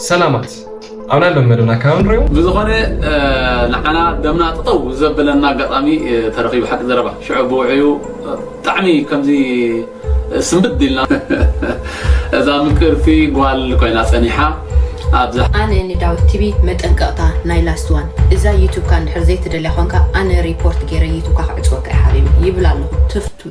ሰላማት ኣብና ለመደና ካብ ንሪኦ ብዝኾነ ንዓና ደምና ጥጠው ዘብለና ኣጋጣሚ ተረኺቡ ሓቂ ዘረባ ሽዑ ብውዕዩ ብጣዕሚ ከምዚ ስምብድ ኢልና እዛ ምቅርቲ ጓል ኮይና ጸኒሓ ኣብዛ ኣነ ንዳዊት ቲቪ መጠንቀቕታ ናይ ላስት ዋን እዛ ዩቱብካ እንድሕር ዘይትደልያ ኾንካ ኣነ ሪፖርት ገይረ ዩቱብካ ክዕፅወካ እየ ሓቢቢ ይብል ኣለኹ ትፍቱ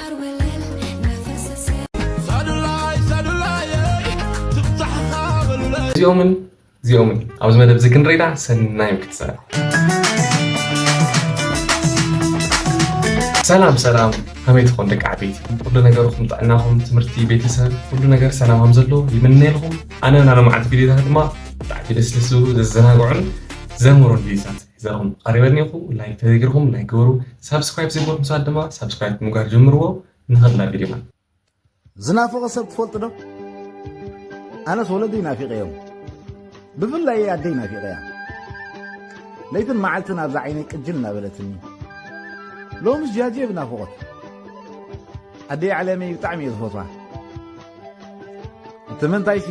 እዚኦምን እዚኦምን ኣብዚ መደብ እዚ ክንረዳ ሰናይ ክትሰራ ሰላም ሰላም ከመይ ትኾን ደቂ ዓበይቲ ኩሉ ነገርኩም ጥዕናኹም ትምህርቲ ቤተሰብ ኩሉ ነገር ሰላም ከም ዘለዎ ይምነየልኩም ኣነ ናሎመዓልቲ ቪድዮታት ድማ ብጣዕሚ ደስ ደስ ዝብሉ ዘዘናግዑን ዘምህሩን ቪድዮታት ሒዘልኩም ቐሪበ እኒኦኹ ላይክ ተዘይገርኩም ላይክ ግበሩ ሳብስክራይብ ዘይገበርኩም ሰባት ድማ ሳብስክራይብ ብምግባር ጀምርዎ ንኸድ ናብ ቪድዮና ዝናፈቐ ሰብ ትፈልጡ ዶ ኣነስ ወለደይ ናፊቐዮም ብፍላይ ኣደይ ናፊቐያ ለይትን መዓልትን ኣብዛ ዓይነይ ቅጅል እናበለትኒ ሎምስ ጃጀ ብናፍቖት ኣደይ ዓለመይ ብጣዕሚ እየ ዝፈትዋ እቲ ምንታይሲ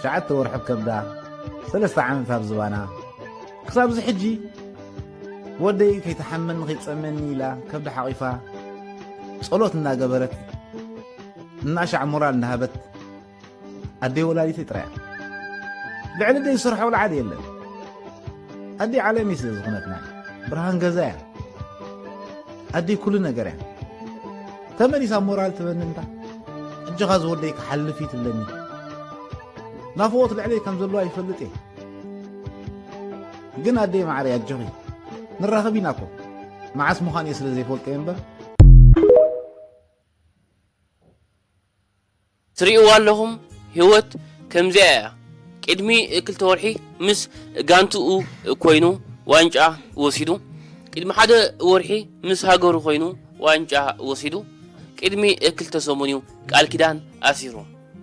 ሸዓተ ወርሒ ከብዳ ሰለስተ ዓመት ኣብ ዝባና ክሳብ እዚ ሕጂ ወደይ ከይተሓመኒ ከይጸመኒ ኢላ ከብዲ ሓቒፋ ጸሎት እናገበረት እናሻዕ ሞራል እናሃበት ኣደይ ወላዲተይ ጥራያ ልዕሊ ደይ ዝሰርሖ ልዓድ የለን ኣደይ ዓለመይ ስለ ዝኾነትና ብርሃን ገዛ እያ ኣደይ ኩሉ ነገር እያ ተመሊሳ ሞራል ትበኒ እንታ እጆኻ ዝወደይ ክሓልፍ እዩ ትብለኒ ናፍቆት ልዕለይ ከም ዘለዋ ይፈልጥ እየ ግን ኣደይ ማዕረይ ኣጆኺ ንራኸብ ኢና እኮ መዓስ ምዃን እየ ስለ ዘይፈልጦ እየ እምበር ትርእይዋ ኣለኹም ህይወት ከምዚኣ እያ ቅድሚ ክልተ ወርሒ ምስ ጋንትኡ ኮይኑ ዋንጫ ወሲዱ ቅድሚ ሓደ ወርሒ ምስ ሃገሩ ኮይኑ ዋንጫ ወሲዱ ቅድሚ ክልተ ሰሙን እዩ ቃል ኪዳን ኣሲሩ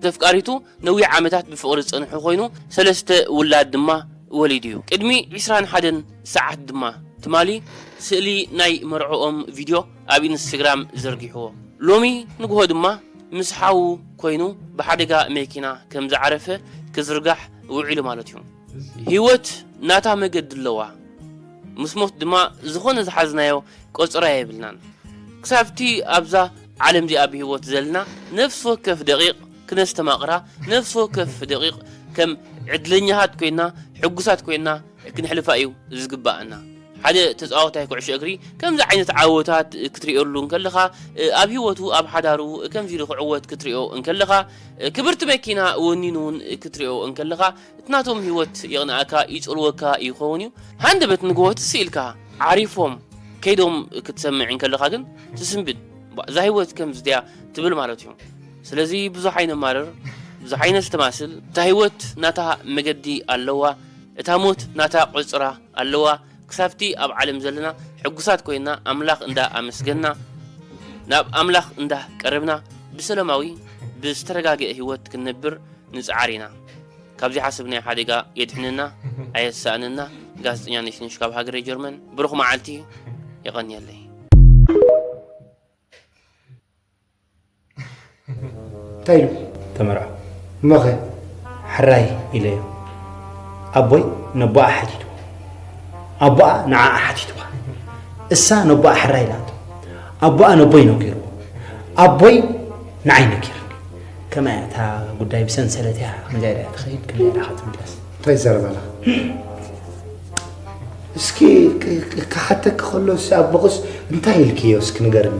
ተፍቃሪቱ ነዊሕ ዓመታት ብፍቕሪ ዝጸንሑ ኮይኑ ሰለስተ ውላድ ድማ ወሊዱ እዩ። ቅድሚ ዕስራን ሓደን ሰዓት ድማ ትማሊ ስእሊ ናይ መርዕኦም ቪድዮ ኣብ ኢንስተግራም ዘርጊሕዎ። ሎሚ ንጉሆ ድማ ምስ ሓዉ ኮይኑ ብሓደጋ መኪና ከምዝዓረፈ ክዝርጋሕ ውዒሉ ማለት እዩ። ህይወት ናታ መገዲ ኣለዋ ምስ ሞት ድማ ዝኾነ ዝሓዝናዮ ቆጸራ የብልናን። ክሳብቲ ኣብዛ ዓለም እዚኣ ብህይወት ዘልና ነፍሲ ወከፍ ደቒቕ ክነስተማቕራ፣ ነፍሲ ወከፍ ደቒቕ ከም ዕድለኛታት ኰይና፣ ሕጉሳት ኰይና ክንሕልፋ እዩ ዚግብኣና። ሓደ ተጻዋታይ ኵዕሾ እግሪ ከምዚ ዓይነት ዓወታት ክትርእየሉ እንከለኻ፣ ኣብ ህይወቱ፣ ኣብ ሓዳሩ ከምዚ ኢሉ ክዕወት ክትርእዮ እንከለኻ፣ ክብርቲ መኪና ወኒኑ እውን ክትርእዮ እንከለኻ፣ እቲ ናቶም ሂወት ይቕንኣካ ይጽልወካ ይኸውን እዩ ሃንደበት ንግሆ ትስ ኢልካ ዓሪፎም ከይዶም ክትሰምዕ እንከለኻ ግን ትስንብድ ባእ እዛ ሂወት ከምዚ ድያ ትብል ማለት እዩ ስለዚ ብዙሕ ኣይነማርር ብዙሕ ኣይነስተማስል እታ ሂወት ናታ መገዲ ኣለዋ እታ ሞት ናታ ቁጽራ ኣለዋ ክሳብቲ ኣብ ዓለም ዘለና ሕጉሳት ኮይና ኣምላኽ እንዳ ኣመስገንና ናብ ኣምላኽ እንዳ ቀረብና ብሰለማዊ ብዝተረጋገኤ ህይወት ክንነብር ንጽዓር ኢና ካብ ዘይሓሰብናዮ ሓደጋ የድሕነና ኣየሳእነና ጋዜጠኛ ነሽነሽ ካብ ሃገረ ጀርመን ብሩኽ መዓልቲ የቐንየለይ እንታይ ኢሉ ተመርዖ እሞኸ ሕራይ ኢለዮ ኣቦይ ነቦኣ ሓቲቱ ኣቦኣ ንዓኣ ሓቲትዋ እሳ ነቦኣ ሕራይ ኢላቶ ኣቦኣ ነቦይ ነጊርዎ ኣቦይ ንዓይ ነጊርኒ ከመይ እታ ጉዳይ ብሰንሰለት እያ ከምዚያ ኢላ ትኸይድ ከምዚያ ኢላ ክትምለስ እንታይ ይዛረብ ኣላ እስኪ ክሓተኪ ከሎ ኣቦኽስ እንታይ ኢልክዮ እስኪ ንገርኒ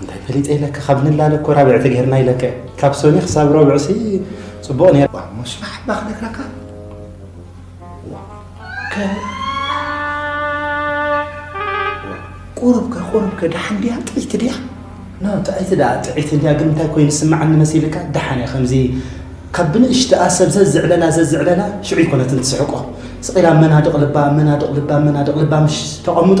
እንታይ ፈሊጠ ኢለካ ካብ ንላለ እኮ ራብዕቲ ገይርና ኢለካ ካብ ሰኒ ክሳብ ረብዕሲ ፅቡቕ ነይሩ ሞሽ ማሓባ ክነግረካ ቁሩብከ ቁሩብከ ደሓን ድያ ጥዒቲ ድያ ጥዒቲ ድኣ ጥዒቲ ድያ ግን እንታይ ኮይኑ ስማዓኒ መሲልካ ደሓን እያ ከምዚ ካብ ብንእሽትኣ ሰብ ዘዝዕለላ ዘዝዕለላ ሽዑ ይኮነትን ትስሕቆ ስቂላ መናድቕ ልባ መናድቕ ልባ መናድቕ ልባ ምሽ ተቐምጦ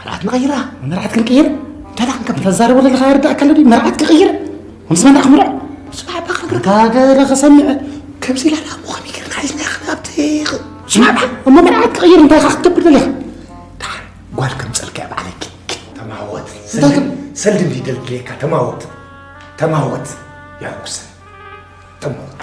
መርዓት ንቐይራ መርዓት ክንቅይር እንታዳ ክንከብ ተዛረቡ ዘለኻ ይርዳእካ ኣለዲ መርዓት ክቕይር ምስ መና ክምርዕ ስማዕ እባ ክነግርካ ገለ ከሰምዕ ከምዚ ኢላ ዳሞ ከመይ ጌርና ሒዝና ክንኣብቲ ስማዕ እባ እሞ መርዓት ክቕይር እንታይ ኢኻ ክትገብር ደሊኻ ድሓር ጓል ከም ፀልክያ በዓለኪ ተማወት ሰልዲ እንዲ ደልድለካ ተማወት ተማወት ያጉሰ ተማወት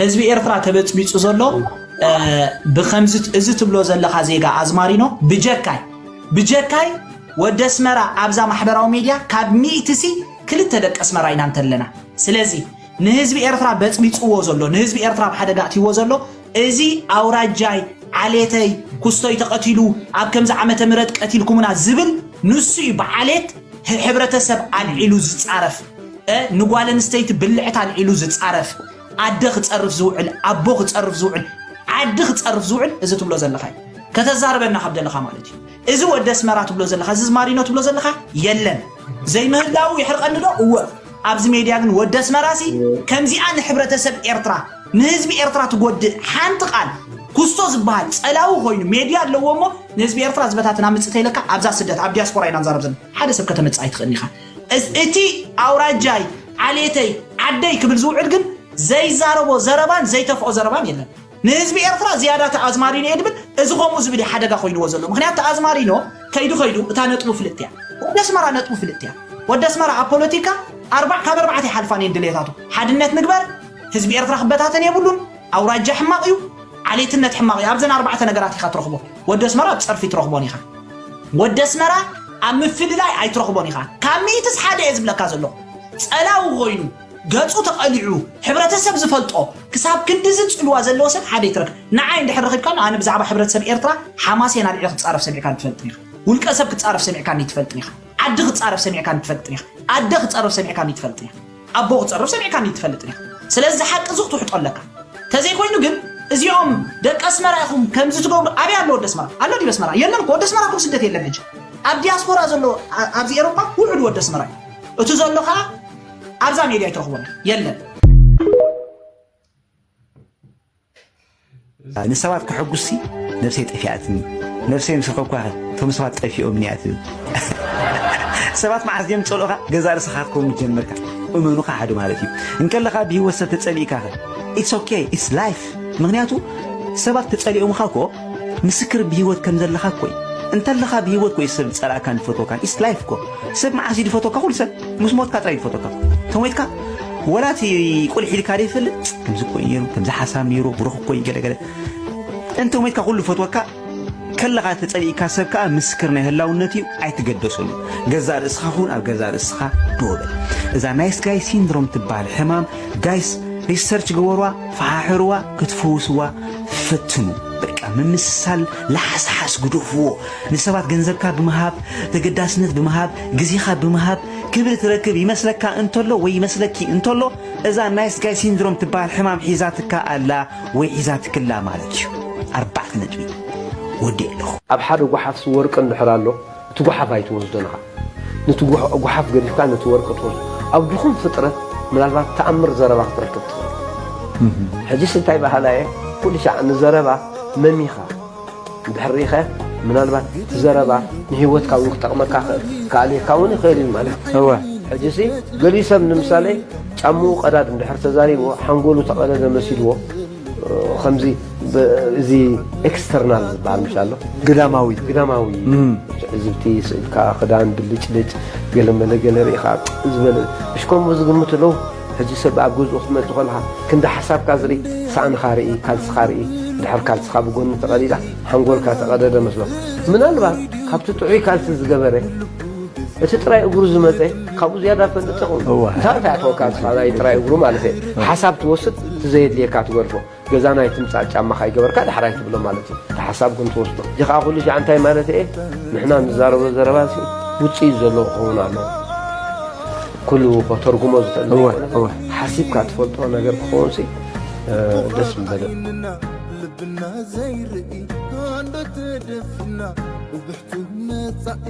ህዝቢ ኤርትራ ተበጽቢጹ ዘሎ ብከምዚ እዚ ትብሎ ዘለካ ዜጋ ኣዝማሪኖ ብጀካይ ብጀካይ ወደ ኣስመራ ኣብዛ ማሕበራዊ ሚድያ ካብ ሚእቲ ሲ ክልተ ደቂ ኣስመራ ኢና እንተለና ስለዚ ንህዝቢ ኤርትራ በጽቢጽዎ ዘሎ ንህዝቢ ኤርትራ ኣብ ሓደጋ ኣትይዎ ዘሎ እዚ ኣውራጃይ ዓሌተይ ኩስቶይ ተቀቲሉ ኣብ ከምዚ ዓመተ ምህረት ቀቲልኩሙና ዝብል ንሱ እዩ ብዓሌት ሕብረተሰብ ኣልዒሉ ዝጻረፍ እ ንጓል ኣንስተይቲ ብልዕታ ኣልዒሉ ዝጻረፍ ኣደ ክጸርፍ ዝውዕል ኣቦ ክጸርፍ ዝውዕል ዓዲ ክጸርፍ ዝውዕል እዚ ትብሎ ዘለኻ እዩ ከተዛርበና ካብ ደለኻ ማለት እዩ እዚ ወደ ኣስመራ ትብሎ ዘለኻ እዚ ማሪኖ ትብሎ ዘለኻ የለን ዘይምህላው የሕርቀኒ ዶ እወ ኣብዚ ሜድያ ግን ወደ ኣስመራሲ ከምዚኣ ንሕብረተሰብ ኤርትራ ንህዝቢ ኤርትራ ትጎድእ ሓንቲ ቃል ኩስቶ ዝበሃል ጸላዊ ኮይኑ ሜድያ ኣለዎ እሞ ንህዝቢ ኤርትራ ዝበታትን ኣምጽእ ተይለካ ኣብዛ ስደት ኣብ ዲያስፖራ ኢና ንዛረብ ዘለና ሓደ ሰብ ከተመጽእ ኣይትኽእልን ኢኻ እስ- እቲ ኣውራጃይ ዓሌተይ ዓደይ ክብል ዝውዕል ግን ዘይዛረቦ ዘረባን ዘይተፍኦ ዘረባን የለን ንህዝቢ ኤርትራ ዝያዳ ተኣዝማሪኖ እየ ድብል እዚ ከምኡ ዝብል እዩ ሓደጋ ኮይንዎ ዘሎ ምክንያቱ ተኣዝማሪኖ ከይዱ ከይዱ እታ ነጥቡ ፍልጥቲ እያ ወዲ ኣስመራ ነጥቡ ፍልጥቲ እያ ወዲ ኣስመራ ኣብ ፖለቲካ ኣርባዕ ካብ ኣርባዕተ ይሓልፋን እየን ድሌታቱ ሓድነት ንግበር ህዝቢ ኤርትራ ክበታተን የብሉን ኣውራጃ ሕማቅ እዩ ዓሌትነት ሕማቅ እዩ ኣብዘን ኣርባዕተ ነገራት ኢካ ትረክቦ ወዲ ኣስመራ ኣብ ጸርፊ ትረክቦን ኢካ ወዲ ኣስመራ ኣብ ምፍልላይ ኣይትረክቦን ኢካ ካብ ሚእትስ ሓደ እየ ዝብለካ ዘለኩ ጸላዊ ኮይኑ ገጹ ተቀሊዑ ሕብረተሰብ ዝፈልጦ ክሳብ ክንድዚ ጽልዋ ዘለዎ ሰብ ሓደ ይትረክ ንዓይ እንድሕር ረኪብካን ኣነ ብዛዕባ ሕብረተሰብ ኤርትራ ሓማሴን ኣልዒለ ክጻረፍ ሰሚዕካን ትፈልጥን ኢካ ውልቀ ሰብ ክጻረፍ ሰሚዕካኒ ትፈልጥን ኢካ ዓዲ ክጻረፍ ሰሚዕካኒ ትፈልጥን ኢካ ኣደ ክጸረፍ ሰሚዕካኒ ትፈልጥን ኢካ ኣቦ ክጸርፍ ሰሚዕካኒ ትፈልጥ ዲኻ ስለዚ እዚ ሓቂ እዚ ክትውሕጦ ኣለካ ተዘይ ኮይኑ ግን እዚኦም ደቂ ኣስመራ ኢኹም ከምዚ ትገብሩ ኣበይ ኣሎ ወዲ ኣስመራ ኣሎ ዲበ ኣስመራ የለን እኮ ወዲ ኣስመራ እኮ ስደት የለን ሕጂ ኣብ ዲያስፖራ ዘሎ ኣ- ኣብዚ ኤሮፓ ውሑድ ወዲ ኣስመራ እዩ እቲ ዘሎ ከዓ ኣብዛ ሜድያ ኣይትረኽቦን ኢኻ። የለን ንሰባት ከሐጉስሲ ነብሰይ ጠፊኣትኒ ነብሰይ ምስ ረኸብኳኸ እቶም ሰባት ጠፊኦምኒ እያ ትብል ሰባት መዓዝ ድዮም ዝጸልኡኻ ገዛ ርእስኻ ክትከውን ጀመርካ እመኑኻ ሓደ ማለት እዩ እንከለኻ ብሂወት ሰብ ተጸሊእካኸ ኢትስ ኦኬ ኢትስ ላይፍ ምክንያቱ ሰባት ተጸሊኦምኻ እኮ ምስክር ብሂወት ከም ዘለኻ እኮ እዩ እንተለኻ ብሂወት ኮይ ሰብ ዝጸላእካን ዝፈትወካን ኢትስ ላይፍ እኮ ሰብ መዓስ እዩ ዝፈትወካ ኩሉ ሰብ ምስ ሞትካ ጥራይ ዝፈተካ ተሞይትካ ወላ እቲ ቁልሕ ኢልካ ደ ይፈልጥ ከምዚ ኮይ ነይሩ ከምዚ ሓሳብ ነይሩ ብሩኽ ኮይ ገለገለ እንተ ሞይትካ ኩሉ ፈትወካ ከለኻ ተጸሊእካ ሰብ ከዓ ምስክር ናይ ህላውነት እዩ ኣይትገደሰሉ ገዛ ርእስኻ ኹን ኣብ ገዛ ርእስኻ ደወበል እዛ ናይስ ጋይ ሲንድሮም ትበሃል ሕማም ጋይስ ሪሰርች ገበሯ ፈሓሕርዋ ክትፈውስዋ ፈትኑ በቃ ምምስሳል ላሓስሓስ ግደፍዎ ንሰባት ገንዘብካ ብምሃብ፣ ተገዳስነት ብምሃብ፣ ግዜኻ ብምሃብ ክብሪ ትረክብ ይመስለካ እንተሎ ወይ ይመስለኪ እንተሎ እዛ ናይስ ጋይ ሲንድሮም ትበሃል ሕማም ሒዛትካ ኣላ ወይ ሒዛትክላ ማለት እዩ። ኣርባዕተ ነጥቢ ወዲኤ ኣለኹ። ኣብ ሓደ ጓሓፍሲ ወርቂ እንድሕር ኣሎ እቲ ጓሓፍ ኣይትወስዶን ኢኻ ነቲ ጓሓፍ ገዲፍካ ነቲ ወርቂ ትወስዶ ኣብ ድኹም ፍጥረት ምናልባት ተኣምር ዘረባ ክትረክብ ትኽእል ሕጅስ እንታይ በሃላየ ኩልሻዕ ንዘረባ መሚኻ እንድሕር ርኢኸ ምናልባት እቲ ዘረባ ንህይወትካ እውን ክጠቕመካ ክኣልየካ እውን ይኽእል እዩ ማለት እዩ። እወ ሕጂሲ ገሊኡ ሰብ ንምሳሌ ጫምኡ ቀዳድ እንድሕር ተዛሪብዎ ሓንጎሉ ተቐደደ መሲልዎ ከምዚ እዚ ኤክስተርናል ዝበሃል ምሽ ኣሎ ግዳማዊ ግዳማዊ ትዕዝብቲ ስእልካ ክዳን ብልጭልጭ ገለ መለ ገለ ርኢኻ ዝበለ ምሽ ከምኡ ዝግምቱ ኣለዉ ሕጂ ሰብ ኣብ ገዝኡ ክትመጽእ ከለኻ ክንዲ ሓሳብካ ዝርኢ ሳእንኻ ርኢ ካልስኻ ርኢ ድሕር ካልስኻ ብጎኒ ተቐዲዳ ሓንጎልካ ተቐደደ መስሎ ምናልባት ካብቲ ጥዑይ ካልሲ ዝገበረ እቲ ጥራይ እግሩ ዝመጸ ካብኡ ዝያዳ ፈልጥ ኹም እዋ። እንታይ ኣታኣተወካ ንስኻ ናይ ጥራይ እግሩ ማለት እየ ሓሳብ ትወስድ ትዘየድልየካ ትገድፎ ገዛና ኣይትምጻእ ጫማኻ ኣይገበርካ ዳሕራይ ትብሎ ማለት እዩ እቲ ሓሳብ ግን ትወስዶ እዚ ከኣ ኩሉ ሻዕ እንታይ ማለት እየ ንሕና ንዛረቦ ዘረባ ሲ ውጽኢት ዘለዎ ክኸውን ኣለዎ ኩሉ ከተርጉሞ ዝኽእል እወ፣ ዘይኮነ እወ። ሓሲብካ ትፈልጦ ነገር ክኸውን ሲ ደስ ምበለ ና ልብና ዘይርኢ ኣንዶ ተደፍና ብብሕቱ መጻኢ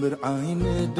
ምርዓይ ንዳ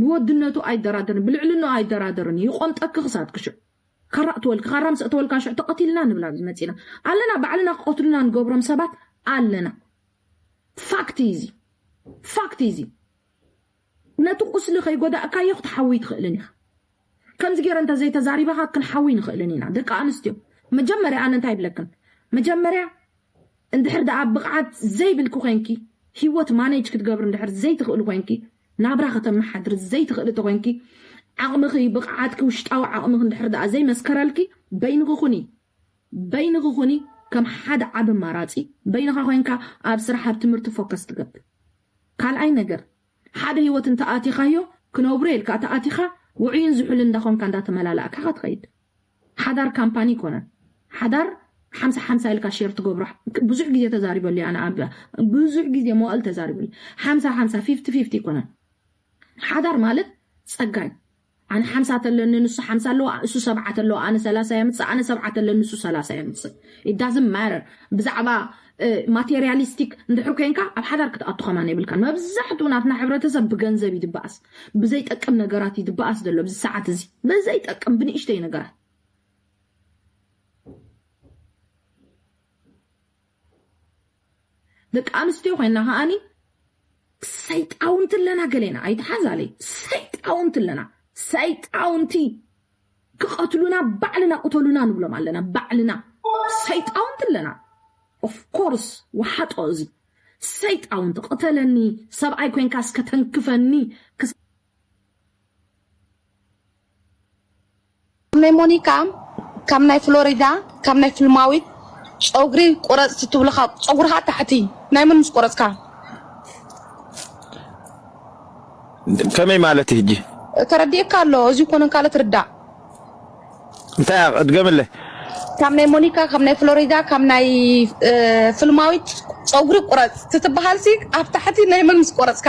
ብወድነቱ ኣይደራደርን ብልዕልንኡ ኣይደራደርን እዩ ይቆምጠኪ ክሳድኪ ሽዑ ካራ እትወልኪ ካራ ምስ እተወልካ ሽዑ ተቐቲልና ንብል ኣብዚ መፂና ኣለና ባዕልና ክቐትሉና ንገብሮም ሰባት ኣለና ፋክት እዩ እዚ ፋክት እዩ እዚ ነቲ ቁስሊ ከይጎዳእካዮ ክትሓውይ ትኽእልን ኢኻ ከምዚ ጌረ እንተ ዘይተዛሪበኻ ክንሓዊ ኣይንኽእልን ኢና ደቂ ኣንስትዮ መጀመርያ ኣነ እንታይ ይብለክን መጀመርያ እንድሕር ደኣ ብቕዓት ዘይብልኪ ኮንኪ ሂወት ማኔጅ ክትገብሪ እንድሕር ዘይትኽእሊ ኮንኪ ናብራ ከተመሓድሪ ዘይትኽእሊ ተኮንኪ ዓቕምኺ ብቕዓትኪ ውሽጣዊ ዓቕምኺ እንድሕር ደኣ ዘይመስከረልኪ በይንኺ ኩኒ በይንኺ ኩኒ ከም ሓደ ዓቢ ኣማራጺ በይንኻ ኮንካ ኣብ ስራሕ ኣብ ትምህርቲ ፎከስ ትገብር ካልኣይ ነገር ሓደ ህይወት እንተ ኣቲኻዮ ክነብሮ'የ ኢልካ እተ ኣቲኻ ውዑይን ዝሑልን እንዳ ኾንካ እንዳ ተመላላእካ ኢኻ ትኸይድ። ሓዳር ካምፓኒ ኣይኮነን። ሓዳር ሓምሳ ሓምሳ ኢልካ ሼር ትገብሮ ብዙሕ ግዜ ተዛሪበሉ እየ ኣነ ኣብ ብዙሕ ግዜ መዋእል ተዛሪበሉ ሓምሳ ሓምሳ ፊፍቲ ፊፍቲ ኣይኮነን። ሓዳር ማለት ጸጋ እዩ። ኣነ ሓምሳ ተለኒ ንሱ ሓምሳ ኣለዋ እሱ ሰብዓ ተለዋ ኣነ ሰላሳ የምፅእ ኣነ ሰብዓ ተለኒ እሱ ሰላሳ የምፅእ it doesn't matter ብዛዕባ ማቴሪያሊስቲክ እንድሕር ኮንካ ኣብ ሓዳር ክትኣቱ ከማን የብልካን መብዛሕትኡ ናትና ሕብረተሰብ ብገንዘብ እዩ ዝበኣስ ብዘይጠቅም ነገራት እዩ ዝበኣስ ዘሎ ኣብዚ ሰዓት እዚ ብዘይጠቅም ብንእሽተይ ነገራት ደቂ ኣንስትዮ ኮይና ከኣኒ ሰይጣውንቲ ኣለና ገሌና ኣይተሓዛለይ ሰይጣውንቲ ኣለና ሰይጣውንቲ ክቐትሉና ባዕልና ቅተሉና ንብሎም ኣለና ባዕልና ሰይጣውንቲ ኣለና ኦፍኮርስ ወሓጦ እዚ ሰይጣውንቲ ቅተለኒ ሰብኣይ ኮንካ እስከ ተንክፈኒ ካብ ናይ ሞኒካ ካብ ናይ ፍሎሪዳ ካብ ናይ ፍልማዊት ጨጉሪ ቁረጽቲ ትብሉካ ጸጉርካ ታሕቲ ናይ መን ምስ ቆረጽካ ከመይ ማለት እዩ ሕጂ ተረዲእካ ኣሎ እዚ ኮነ ካለ ትርዳእ እንታይ እያ እድገምለይ ካብ ናይ ሞኒካ ካብ ናይ ፍሎሪዳ ካብ ናይ እ፣ ፍልማዊት ፀጉሪ ቁረፅ ትትበሃልሲ ኣብ ታሕቲ ናይ መን ምስ ቆረፅካ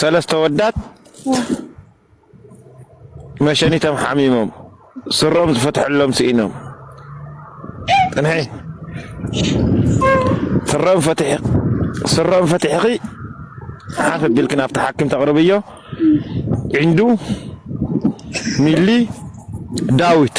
ሰለስተ ወዳት መሸኒቶም ሓሚሞም ስሮም ዝፈትሐሎም ስኢኖም ጥንሒ ስሮም ፈትሒ ስሮም ፈትሕኺ ሓፍ ቢልክ ናብቲ ሓኪም ተቕርብዮ ዕንዱ ሚሊ ዳዊት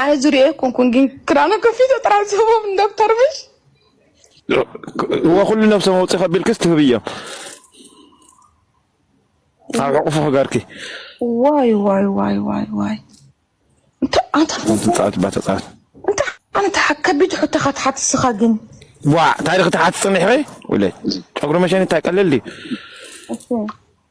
ኣነ ዝሪኦ ኣይኮንኩን ግን ክዳኑ ከፊቶ ጥራሕ ዝህቦም ንዶክተር ምሽ ወኩሉ ነብሰ መውፅኢ ከቢልክስ ትህብዮ ኣብ ዕቑፉ ክገርኪ ዋይ ዋይ ዋይ ዋይ ዋይ እንታይ ኣንታ ትፃወት ባ ተፃወት እንታይ ኣንታ ከቢድ ሕቶ ኢኻ ትሓት ንስኻ ግን ዋ ታሪክ ትሓት ፅኒሕኺ ውለይ ጨጉሪ መሸኒ እንታይ ቀልል ድዩ እሺ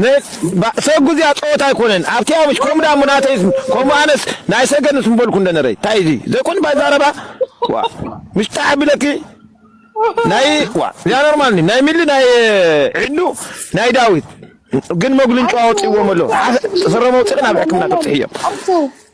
ን ብ ሰጉ እዚኣ ጸወታ ኣይኮነን ኣብቲ ኣበሽ ከምኡ ዳሞ ናተይ ከምኡ ኣነስ ናይ ሰገንስ ምበልኩ እንደ ነረይ እንታይ እዚ ዘይኮን ባይ ዛረባ ዋ ምሽ ጣዕ ኣቢለኪ ናይ ዋ እዚኣ ኖርማል ኒ ናይ ሚሊ ናይ ዒዱ ናይ ዳዊት ግን መጉልን ጨዋ ወጺእዎም ኣሎ ሓ- ስረ መውጽእን ኣብ ሕክምና ተብጽሕዮ ኣቶ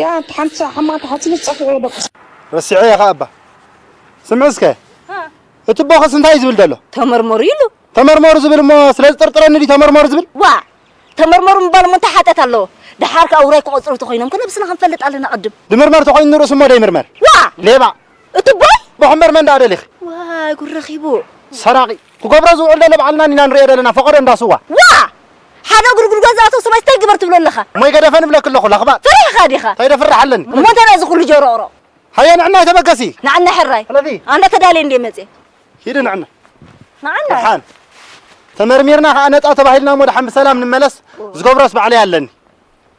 ያ ኣንቲ ሓንቲ ሳዕ ሕማቅ ተሓስብስ ጸፊዑ ዶ ክስ ረሲዐዮ ከኣ እባ ስምዒ እስከ እቲ ቦኽስ እንታይ እዩ ዝብል ዘሎ? ተመርመሩ ኢሉ። ተመርመሩ ዝብል እሞ ስለ ዝጥርጥረኒ ድዩ ተመርመሩ ዝብል? ዋእ ተመርመሩ ምባል እሞ እንታይ ሓጥያት ኣለዎ? ደሓር ከኣ ውራይ ክቖጽሩ እንተኾይኖም ከ ነብስና ክንፈልጥ ኣለና ቅድም። ድምርመር ተኾይኑ ንርእሱ እሞ ደይምርመር። ዋእ ሌባ! እቱቦይ! ቦኽምበር መን ደኣ ደሊኺ? ዋይ ጉድ ረኺቡ! ሰራቒ! ክገብሮ ዝውዕል ዘሎ ባዕልና ኢና ንርእዮ ዘለና ፈቀዶ እንዳ ስዋ። ዋእ! ሓደ እግሩ ጉድጓድ ዝኣተወ ሰብኣይስ ታይ ግበር ትብሎ ኣለኻ? እሞ ኣይገደፈን እብለኪ ኣለኹ ለኽባጥ። ፈሪሕኻ ዲኻ? ከይደ ፍርሕ ኣለኒ። እሞ እንታይ ናይዚ ኩሉ ጀሮቕሮቕ? ሃየ ንዕናይ ተበገሲ። ንዓናይ ሕራይ። ሕለፊ። ኣንዳ ተዳልየ እንድየ መጽየ። ሂዲ ንዕናይ። ንዓናይ? ደሓን። ተመርሚርና ከኣ ነጻ ተባሂልና እሞ ደሓን ብሰላም ንመለስ። ዝገብሮስ ባዕለይ ኣለኒ።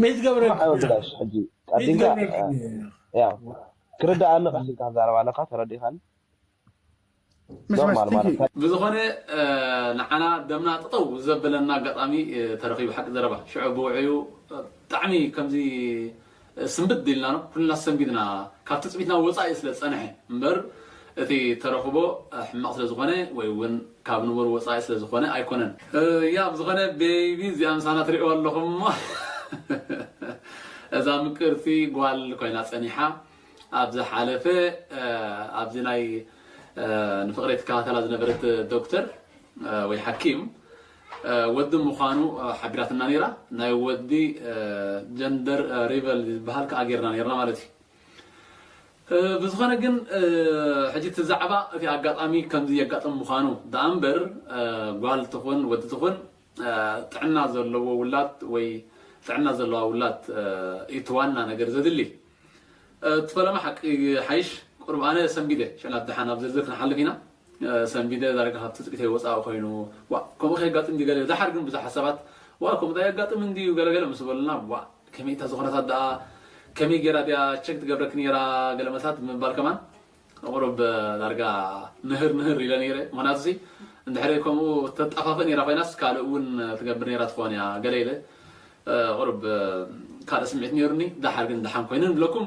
ሚት ገብረ ብላሽ ሕጂ ቀዲምካ ያው ክርዳእ ኣለካ ሲልካ ዛረባ ኣለካ ተረዲኻኒ ኖርማል ማለት ብዝኾነ ንዓና ደምና ጥጠው ዘበለና ኣጋጣሚ ተረኺቡ ሓቂ ዘረባ ሽዑ ብውዕዩ ብጣዕሚ ከምዚ ስንብድ ኢልና ኩልና ሰንቢድና ካብ ትጽቢትና ወጻኢ ስለ ዝጸንሐ እምበር እቲ ተረኽቦ ሕማቕ ስለ ዝኾነ ወይ ውን ካብ ንቡር ወጻኢ ስለ ዝኾነ ኣይኮነን። ያእ ብዝኾነ ቤቢ እዚኣ ምሳና ትሪእዋ ኣለኹም እሞ እዛ ምቅርቲ ጓል ኮይና ጸኒሓ ኣብ ዝሓለፈ ኣብዚ ናይ ንፍቅረይ ትከታተላ ዝነበረት ዶክተር ወይ ሓኪም ወዲ ምዃኑ ሓቢራትና ነይራ። ናይ ወዲ ጀንደር ሪቨል ዝበሃል ክኣ ጌርና ነይርና ማለት እዩ። ብዝኾነ ግን ሕጂ እቲ ዛዕባ እቲ ኣጋጣሚ ከምዚ የጋጥም ምዃኑ ደኣ እምበር ጓል ትኹን ወዲ ትኹን ጥዕና ዘለዎ ውላድ ወይ ጥዕና ዘለዋ ውላድ እዩ እቲ ዋና ነገር ዘድሊ። እቲ ፈለማ ሓቂ ይሓይሽ ቁሩብ ኣነ ሰንቢደ ሽዕላ ደሓን ኣብ ዝርዝር ክንሓልፍ ኢና። ሰንቢደ ዳርጋ ካብ ትጽቢተይ ወጻኢ ኮይኑ ዋእ ከምኡ ከየጋጥም ድዩ ገለ ደሓር ግን ብዙሓት ሰባት ዋእ ከምኡ ዳኣ የጋጥም እንድዩ ገለ ገለ ምስ በሉና ዋእ ከመይ እታ ዝኾነታት ዳኣ ከመይ ጌራ ድያ ቸክ ትገብረኪ ኔራ ገለ መልስታት ብምባል ከማን ቁሩብ ዳርጋ ምህር ምህር ኢለ ነይረ ምኽንያቱ ሲ እንድሕሪ ከምኡ ተጣፋፍእ ኔራ ኮይናስ ካልእ እውን ትገብር ኔራ ትኾን እያ ገለ ኢለ ቁሩብ ካልእ ስምዒት ኔሩኒ ደሓር ግን ደሓን ኮይኑ ንብለኩም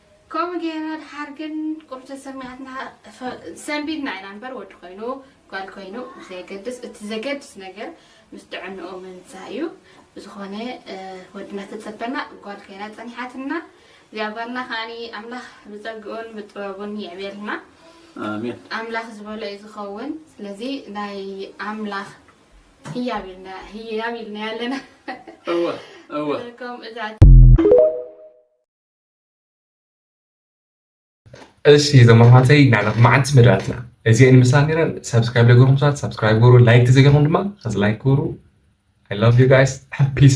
ከምኡ ጌርና ድሓር ግን ቁሩብ ተሰሚዓትና ሰንቢድና ኢና እምበር ወዲ ኮይኑ ጓል ኮይኑ ብዘየገድስ እቲ ዘገድስ ነገር ምስ ጥዕንኡ ምምጻእ እዩ ብዝኾነ ወዲ እናተጸበና ጓል ኮይና ጸኒሓትና እዚኣ ጓልና ከዓኒ ኣምላኽ ብጸግኡን ብጥበቡን ይዕብየልና ኣሜን ኣምላኽ ዝበሎ እዩ ዝኸውን ስለዚ ናይ ኣምላኽ ህያብ ኢልና ህያብ ኢልና ኣለና እወ እወ ከም እዛ እሺ እዞም ኣሕዋተይ ንሕና መዓልቲ መደባትና እዚአን ይመስላ ነይረን ሰብስክራይብ ዘይገበርኩም ሰባት ሰብስክራይብ ግበሩ ላይክ ዘይገበርኩም ድማ ከዚ ላይክ ግበሩ ኣይ ላቭ ዩ ጋይስ ፒስ